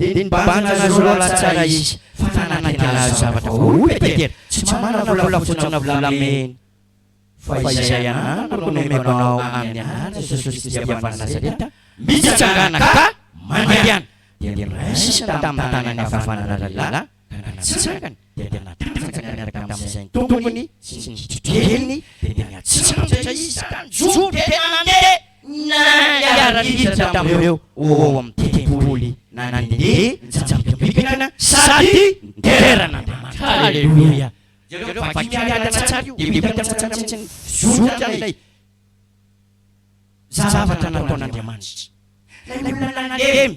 Dia nibanjina azy roa lahy tsara izy, fa nanantena azy zavatra. Hoy i Petera, Tsy manana volafotsy na volamena, fa izay ananako no nomeko anao, amin'ny anaran'i Jesosy Kristy avy any Nazareta, mitsangana ka mandehana. Dia noraisiny tamin'ny tanany havanana ilay lehilahy. Ka na natsangany dia dia natanjaka niaraka tamin'izay ny tompony sy ny kitrokeliny dia dia niantsambotra izy ka nijoro dia nandeha niara-niditra tamin'ireo ho ao amin'ny tempoly na nandeha nitsambikambikina sady niderain'Andriamanitra. Aleloia! Jereo fa vaky mialana tsara io dia hita tsara mihitsy ny zoton'ilay zavatra nataon'Andriamanitra. Ilay olona nandemy.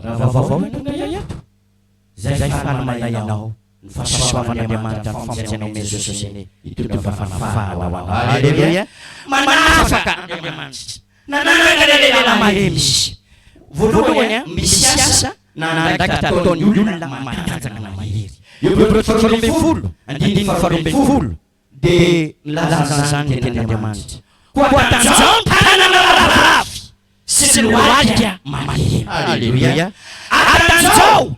Raha vaovao ny tonga eto, zay fa manamay anao ny fahasoavan'Andriamanitra ny famonjena ao Maison Sosené ity tonga fahafahana ho anao. Aleloia! Manafaka Andriamanitra. Nanaraka ilay lehilahy mahay misy. Voalohany, misy asa nandraikitra ataon'ny olona matanjaka na mahery. Eo Hebreo faharoa ambin'ny folo, andininy faharoa ambin'ny folo. Dia nilaza izany ny Tenin'Andriamanitra. Koa tanjaho ny tanana lavorary sy ny lohalika mandeha. Aleloia! Ary tanjaho!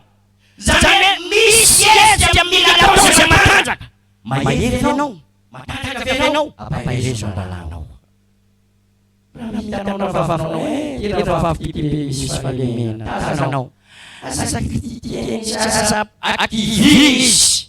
Izany hoe misy hetsika mila atao sady matanjaka. Mahery ve ianao? Matanjaka ve ianao? Ampaherezo ny lalànao. Raha hitanao ny rahavavinao hoe ity rahavaviko ity be misy fahalemena, tazanao. Aza kitikitihina izy, aza akivina izy.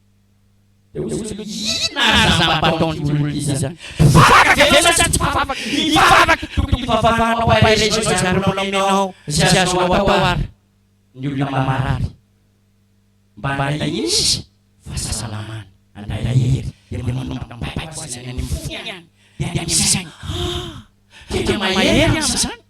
Dia hoy Jesoa, Inona aza mba ataon'ity olona ity izany? Mpivavaka ve ianao sa tsy mpivavaka? Hivavaka, tokony hivavahanao hairaiza izay azonao omenao, izay azonao atao ary, ny olona marary, mba handray izy fahasalamana, handray hery, dia manomboka mibaiko azy any amin'ny fony any, dia any amin'ny sainy. Ah! Tena mahery aho amin'izany.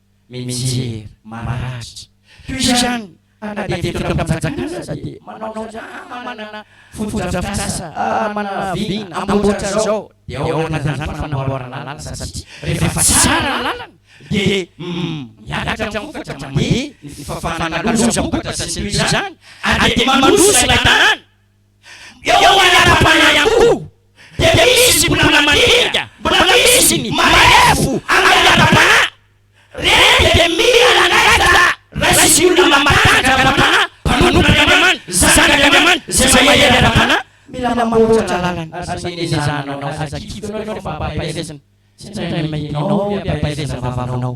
mijery maratra. Toy izany, ary na dia teto am-panjakana aza dia manao izany, ah, manana fotodrafitrasa, ah, manana vina, amboatra izao, dia ao anatin'izany fanamboarana lalana satria rehefa tsara ny lalana dia miakatra ny vokatra, mandeha ny fafana, ny lozam-bokatra sy ny toy izany, ary dia mandroso ilay tanàna. Eo Manjakabana ihany koa dia misy mbola mandinga, mbola misy ny marefo angataham-panahy. Ireny dia mila nangataka raisy olona mampahantra ara-panahy, mpanompon'Andriamanitra, zanak'Andriamanitra, izay mahery ara-panahy. Mila mamboatra lalana ary izay ezahana anao, aza kitinao ireo fampaherezana, tsy indray mandeha ianao ry ampahereza vavanao.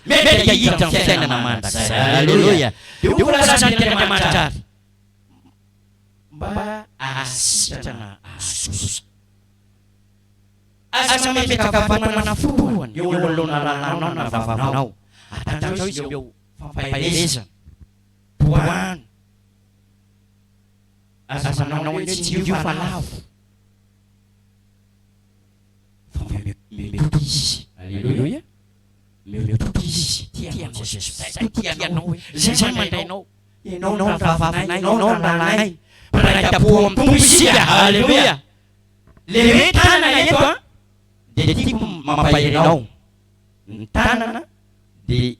Mety hahita ny fiainana mandrakizay. Aleloia! Dia ho voalazan'ny Andriamanitra ary mba hahasitrana azy kosa. Aza mametraka fanomanana foana eo anoloana ranao na vavanao, ary tandrao izy ireo fampaherezana, tohano. Aza manao hoe tsy io fa lavo, fa mety ho izy. Aleloia! le tout izy tia anao je suspecte ko tia anao hoe zay zany mandray anao enao ny rahavavinay enao ny rahalahinay mpiray tampo amin'ny tompo isika haleloia le hoe tanana eto an dia tiako mampahery anao ny tanana dia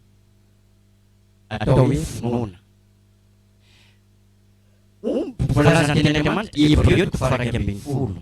atao hoe finoana omby voalazan'ny tenin'Andriamanitra Hebreo toko faha iraika ambin'ny folo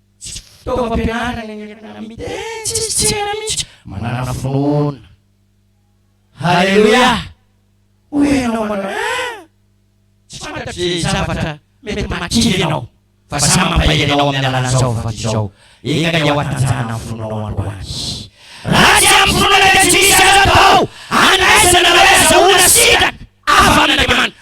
Tsy fitaovam-pianarana ny entana miteny tsisy tsena mihitsy. Manana finoana. Haleloia! Hoy ianao manao, Ah! Tsy fantatro izay zavatra mety mahakiry anao, fa samy mampahery anao amin'ny alalan'izao vavaka izao. Enga dia ho hatanjahana ny finoanao androany. Raha tsy amin'ny finoana dia tsy misy azo atao handraisana na hoe azahoana sitraka avy amin'Andriamanitra.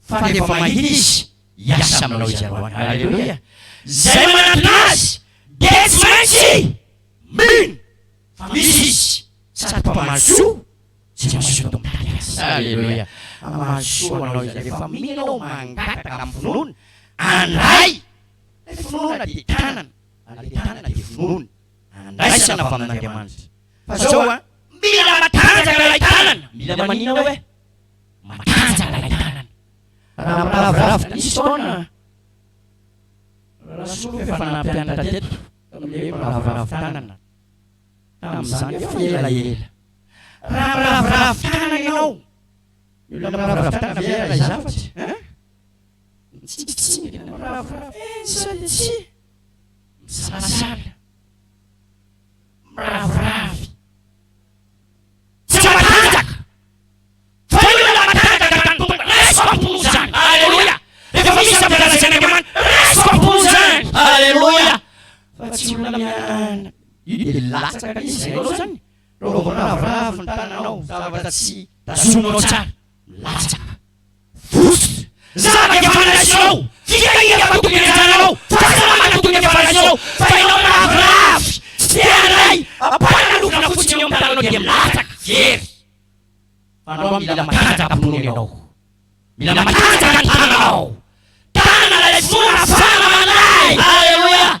Fa rehefa mahita izy, hiasa aminao izy androany. Haleloia! Izay manantona azy, dia tsy maintsy mino fa misy izy, sady mpamaly soa tsy mazoto mitady azy. Haleloia! Hamaly soa anao izy rehefa mino ianao, mangataka amin'ny finoana, andray ilay finoana dia tanana, ary ilay tanana dia finoana, andraisana avy amin'Andriamanitra. Fa izao an, mila matanjaka ilay tanana. Mila maninona oe? matanjaka ilay tanana. Raha miraviravy diso taona, Rasoa efa nampianatra teto tamin'ny hoe miraviravy tanana tamin'izany efa ela ela. Raha miraviravy tanana ianao, ny olona miraviravy tanana ve raha izafy? Hein? Mitsingitsingina, miraviravy, eh, sa dia tsy? Misalasala, miraviravy. Tsy matanjaka. Fa io ilay matanjaka tamin'ny Tompo. Raiso am-po izany. Aleloia. Rehefa misy zavatra lazain' Andriamanitra, raiso am-po izany. Aleloia. Fa tsy olona miha-. Io dia latsaka ilay izy. Hainao izany? Raha vao miraviravy ny tananao, zavatra tsy tazomina ao tsara, milatsaka. Vosotra! Zanaka i Afanasio! Fikahiana fa tokony anjaranao! Fahasalamana tokony an'i Afanasio! Fa ianao miraviravy! Tsy te handray! Ampanalofana fotsiny eo amin'ny tananao dia milatsaka! Very! Fa andao mila matanjaka mpinono ianao! Mila matanjaka ny tananao! Tanana ilay finoana afahana mandray! Aleloia!